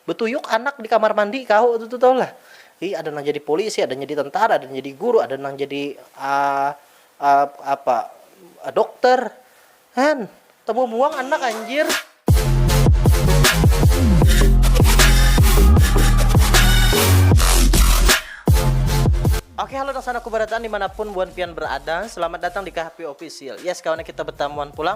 Betuyuk anak di kamar mandi kahu tu tu tahulah. Hi ada nang jadi polisi, ada jadi tentara, ada jadi guru, ada nang jadi uh, uh, apa uh, dokter. Han, temu buang anak anjir. Oke halo dan sana kubarataan dimanapun buan pian berada Selamat datang di KHP Official Yes kawannya kita bertamuan pulang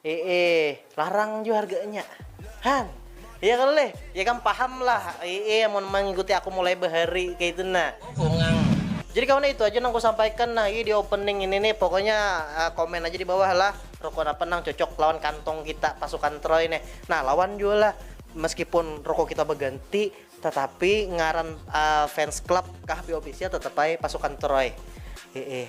Eee larang jua harganya han ya kalo leh ya kam paham lah eee amun mangikuti aku mulai bahari kaitu nah. Jadi kawan itu aja nang ku sampaikan nah di opening ini nih pokoknya komen aja di bawah lah rokok napa nang cocok lawan kantong kita pasukan troy neh nah lawan jua lah meskipun rokok kita baganti tatapi ngaran fans club kah bofficial tetap ai pasukan troy eee.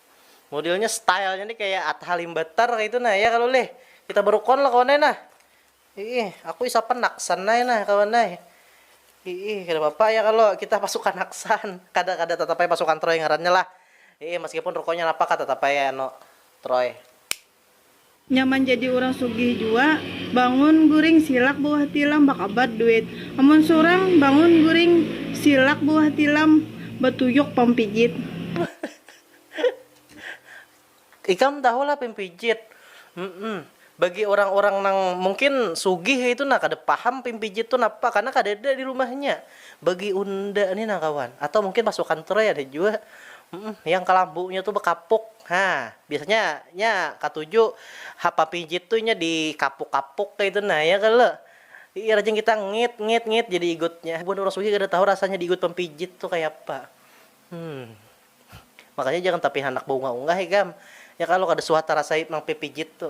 Modelnya stylenya nih kayak Atta Halimbettar itu nah ya kalau leh kita berukon lah kawan nah ih aku isa penaksan nah nah kawan nah ih kada apa-apa ya kalau kita pasukan aksan kada kada tetap aja pasukan troy ngarannya lah ih meskipun rukonya napa kah tetap aja anu troy. Nyaman jadi urang sugih jua, bangun guring silak buah tilam bakabar duit, amun surang bangun guring silak buah tilam batuyuk pampijit. Ikam tahu lah pimpijit? Humm, bagi urang-urang nang mungkin sugih itu nah kada paham pimpijit tu napa karna kadada di rumahnya. Bagi unda ni nah kawan, atau mungkin pasukan Troy ada jua, humm, yang kalambunya tu bakapuk, ha. Biasanya nya katuju hapa pijit tu inya di kapuk kapuk kaitu nah ya kalo iya rajin kita ngit ngit ngit jadi igutnya buhan urang sugih kada tahu rasanya di igut pampijit tu kaya apa hmm makanya jangan tapi handak baunga unga ikam ya kalo kada suah tarasai mangpipijit tu.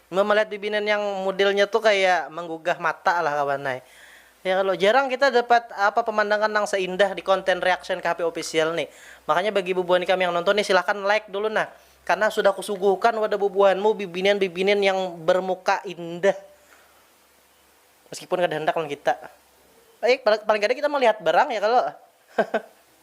Mun malihat bibinan yang mudilnya tu kaya manggugah mata lah kawan ai. Ya kalo, jarang kita dapat apa pemandangan nang seindah di konten reaction KHP official ni. Makanya bagi bubuhan ikam yang nonton ni silahkan like dulu nah. Karena sudah kusuguhkan wadah bubuhanmu bibinan-bibinan yang bermuka indah. Meskipun kada handak lawan kita. Paling kada kita malihat barang ya kalo.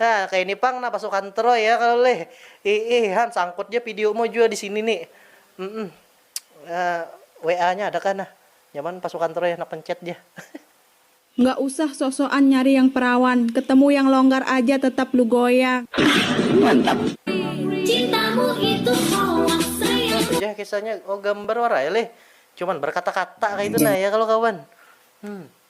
Nah kaya ini pang nah pasukan troy ya kalo leh iih han sangkut ja video mu jua disini ni mm WA nya ada kah nah nyaman pasukan troy handak mencet ja. Nggak usah sok-sokan nyari yang perawan, ketemu yang longgar aja tetap lu goyang. Ahh mantap. Cintamu itu hoak sayang. Itu ja kisahnya oh gambar wara ya leh cuman berkata-kata kaitu nah ya kalo kawan hmm.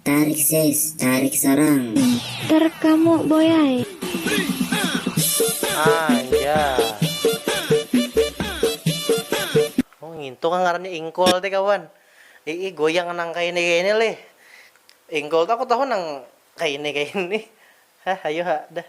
Tarik sis, tarik sarang. Pinter kamu boy ai. Anjay. Oh ngintu kah ngarannya ingkol teh kawan. Ii goyang nang kaini-kaini lih. Ingkol tuh aku tahu nang kaini-kaini. Hah ayu ha dah.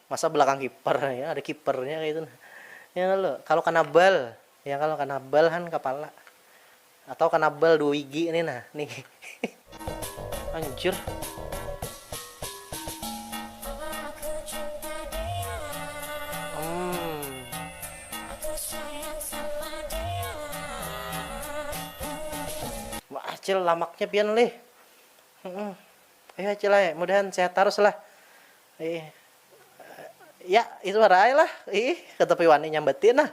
Masa belakang kiper ya ada kipernya kaya itu nah ya kalo, kalo kanabal ya kalo kanabal han kapala atau kanabal dua wigi ni nah nih. Anjir. Umm. Wah acil lamaknya pian lih. Heeh. Ayu acil ai mudahan sehat tarus lah. Ih, ya itu hara ai lah, ih katapi wani nyambati nah.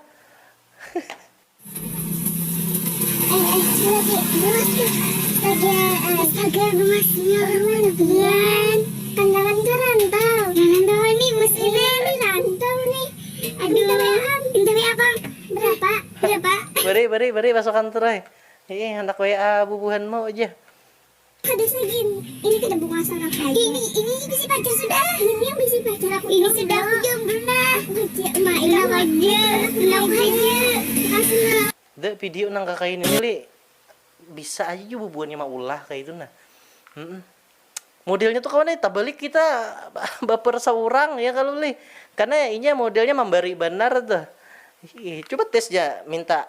Beri beri beri pasukan turai, ih handak WA bubuhanmu jar. Kada usah gin, ini kada bukasal nang kaya. Ini, ini bisi pacar sudah. Ini yang bisi pacar aku ini sudah aku jomblo nah. Aku haja, ma ini aku haja, ini aku haja, makasih ma. The video nang kakaini ni lih bisa aja jua bubuhannya maulah kaya itu nah humm modelnya tu kawan ai tabalik kita baper saurang ya kalo lih karna inya modelnya mambari banar tuh coba tes ja minta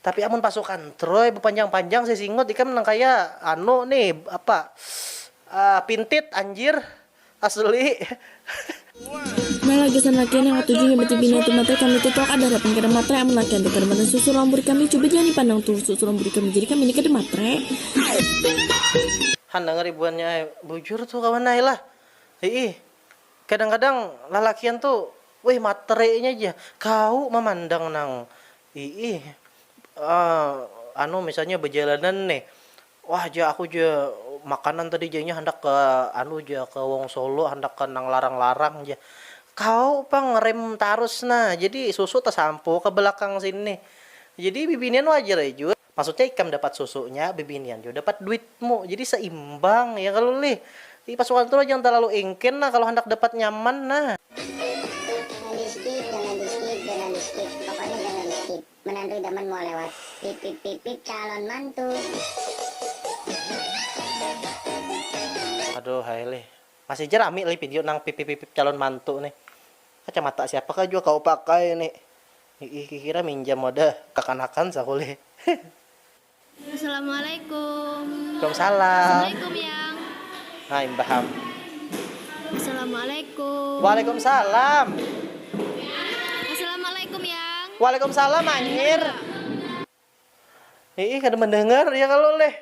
Tapi amun pasukan troy bepanjang panjang sisingut ikam nang kaya anu ni apa pintit anjir asli. Nah lah gasan lakian yang katuju himbat di bini hati matre kami tu tuh kada rating kada matre amun lakian tu kada matan susu rambur kami cuba ja ni pandang tuh susu rambur kami jadi kami ni kada matre. Handangar ibuannya ai bujur tu kawan ai lah hiih kadang kadang lalakian tu wih matre nya ja kawu mamandang nang Iih, anu misalnya bajalanan nih, wah ja aku ja makanan tadi ja inya handak ka anu ja ka wong solo handak ka nang larang-larang ja, kawa pang ngerem tarus nah jadi susu tasampu ka balakang sini, jadi bibinian wajar ai jua. Maksudnya ikam dapat susunya, bibinian jua dapat duitmu, jadi seimbang ya kalo lih. Jadi pasukan tu lah jangan talalu ingkin lah kalo handak dapat nyaman nah. Jangan di skip jangan di skip jangan di skip pokoknya jangan di skip menantu idaman mau lewat pipipipip calon mantu. Aduh hai lih. Masih ja rami lih video nang pipipipip calon mantu nih. Kacamata siapa kah jua kawa pakai nih. Hiih kikira minjam wadah kakanakan sakulih hehe. Assalamualaikum. Waalaikumsalam. Assalamualaikum yang. Nah imbah ham. Assalamualaikum. Waalaikumsalam. Assalamualaikum yang. Waalaikumsalam anjir. Iih kada mandangar ya kalo leh.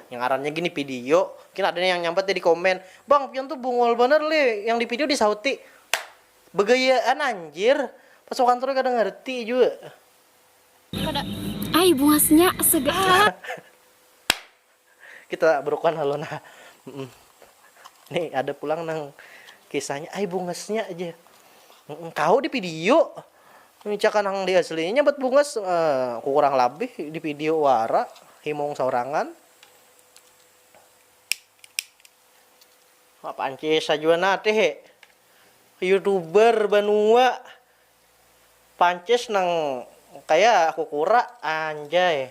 Yang ngarannya gini video, mungkin ada yang nyambat ya di komen, bang pian tuh bungul banar leh, yang di video disahuti begayaan anjir, pas wakantroi kada ngarti jua. Kada ai bungasnya segan. Kita berukuhan lalu nah. Nih ada pulang nang kisahnya ay bungasnya aja kau di video micakan nang di aslinya buat bungas uh, kurang lebih di video wara himung saurangan apa ancis saja nate he youtuber banua pancis nang kayak aku kura anjay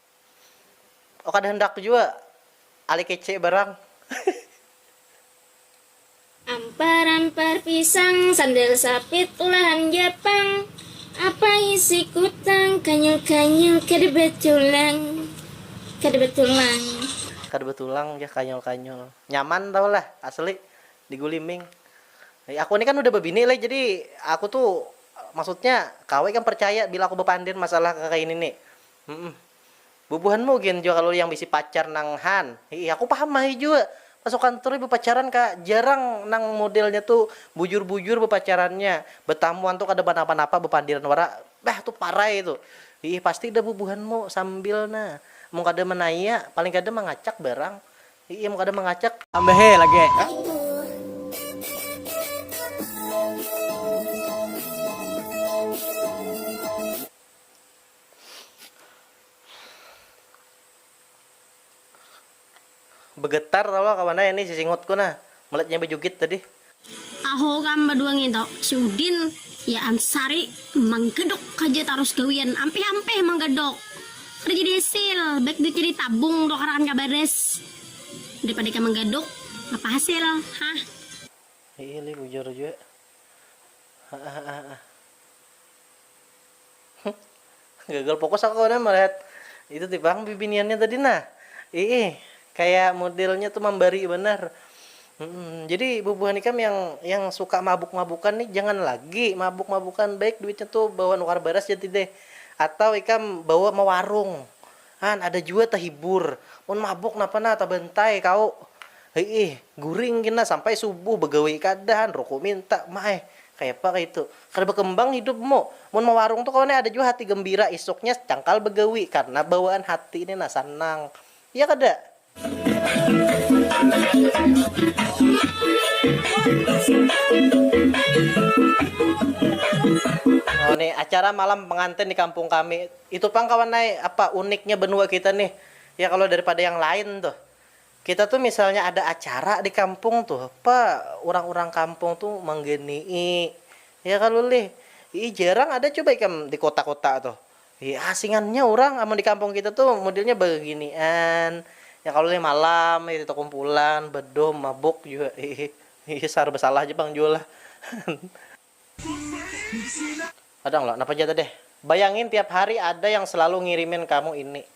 Oh kada handak jua Ali kece barang. Ampar ampar pisang sandal sapit ulahan japang apa isi kutang kanyil kanyil kada batulang kada batulang. Kada batulang jar kanyul kanyul. Nyaman tahu lah asli di guliming. Aku ni kan udah babini leh jadi aku tu maksudnya kawa ikam parcaya bila aku bapandir masalah kakaini ni. Humm. Bubuhanmu gin jua kalu yang bisi pacar nang han. Hiih aku paham mahai jua. Pas aku kantor ni bapacaran ka, jarang nang modelnya tu bujur-bujur bapacarannya. Batamuan tu kada banapa-napa bapandiran wara. Bah tu parai tu. Hiih pasti dah bubuhanmu sambil na. Amun kada manaya, paling kada mangacak barang. Hiih amun kada mangacak. Tambahi lagi. Begetar tahu lah kawan ai ni si Singut ku nah melihat inya bejugit tadi. Tahu kam badua nginto, si Udin, ya am Sari, manggedok haja tarus gawian ampih-ampih manggedok. Kada jadi hasil, baik duitnya ditabung tukarakan ka baris daripada ikam manggaduk, apa hasil, hah. Hiih lih bujur jua, haahahaha. Huh. Gagal fokus aku kawanan malihat itu ti pang bibiniannya tadi nah. Iih, kaya modelnya tu mambari banar. Humm, jadi bubuhan ikam yang yang suka mabuk-mabukan nih jangan lagi mabuk-mabukan, baik duitnya tu bawa nukar baras ja tih deh. Atau ikam bawa mawarung. Han, ada jua tahibur. Mun mabuk napa nah tabantai kau. Hiih, guring gin nah sampai subuh bagawi kada han, ruku minta. Ma ai, kayapa kaitu. Kada bakembang hidupmu. Mun mawarung tu kawan ai ada jua hati gambira isuknya cangkal bagawi karna bawaan hati ni nah sanang. Iya kada? Ini acara malam pengantin di kampung kami. Itu pang kawan ai apa uniknya benua kita nih. Ya kalo daripada yang lain tuh. Kita tuh misalnya ada acara di kampung tuh apa urang-urang kampung tuh manggenii. Ya kalo lih. Ih jarang ada coba ikam di kota-kota tuh. Hi asingannya urang amun di kampung kita tu modelnya baginian ya kalo leh malam kaya itu kumpulan bedom mabuk jua hihi sarba salah ja pang jua lah kadang lah napa ja tadeh bayangin tiap hari ada yang selalu ngirimin kamu ini.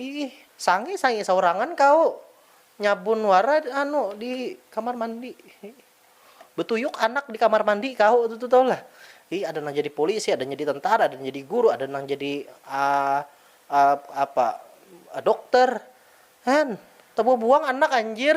Iih sange sange saurangan kau nyabun wara anu di kamar mandi betuyuk anak di kamar mandi kau itu tu tau lah iih ada nang jadi polisi ada jadi tentara ada jadi guru ada nang jadi apa dokter han tebubuang anak anjir.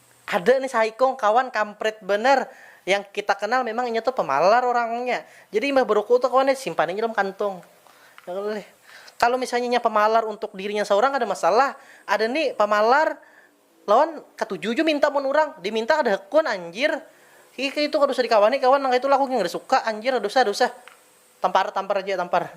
Ada nih saikung kawan kamprit banar, yang kita kenal memang inya tu pamalar urangnya, jadi imbah beruku tu kawan nih simpan aja dalam kantung. Kalo misalnya inya pamalar untuk dirinya saurang kada masalah, ada nih pamalar lawan katuju jua minta mun urang, diminta kada hakun anjir, hi kaya itu kada usah dikawani kawan nang kaya itu lah aku gin kada suka anjir, ada usah ada usah, tampar tampar aja tampar.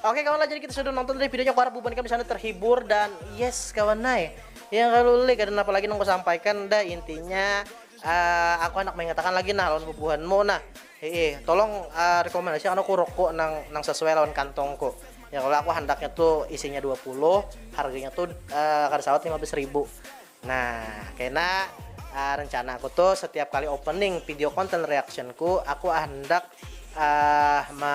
Oke kawan lah jadi kita sudah nonton dari videonya aku harap buban kami sana terhibur dan yes kawan nai yang kalau lagi dan apa lagi nunggu sampaikan dah intinya uh, aku anak mengatakan lagi nah lawan bubuhanmu nah hehe tolong uh, rekomendasi aku rokok nang nang sesuai lawan kantongku ya kalau aku handaknya tuh isinya 20 harganya tuh uh, kada sawat 15 ribu Nah, kena ah rencana aku tuh setiap kali opening video konten reaction ku, aku ah hendak ah me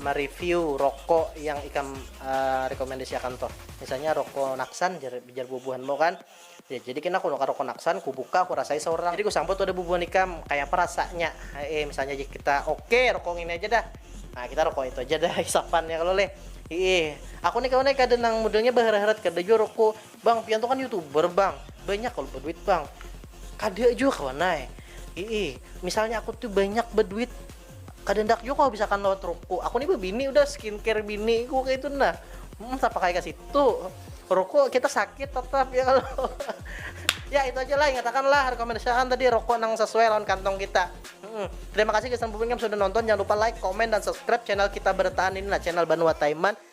mereview roko yang ikam ah rekomendasi akan tuh. Misalnya roko Naksan jar jar bubuhan mu kan. Ya jadi kena aku nukar roko Naksan, ku buka, ku rasai saurang. Jadi ku sambut wadah bubuhan ikam, kayapa rasanya he'ih misalnya jar kita, oke roko ngini aja dah. Nah kita roko itu aja dah hisapannya kalo leh. Hi'ih. Aku ni kawan ai kada nang modelnya baharat-harat, kada jua roko Bang, pian tu kan youtuber bang, banyak kalau berduit bang. Kada jua kawan ay. Ii, misalnya aku tuh banyak berduit, kada ndak juga kau bisa kan lewat ruku. Aku nih bini udah skincare bini ku kayak itu nah. Hmm, siapa kayak kasih itu? Ruku kita sakit tetap ya kalau. ya itu aja lah ingatakan lah rekomendasikan tadi rokok nang sesuai lawan kantong kita. Hmm. Terima kasih guys dan sudah nonton. Jangan lupa like, komen, dan subscribe channel kita bertahan ini lah channel Banua Taiman.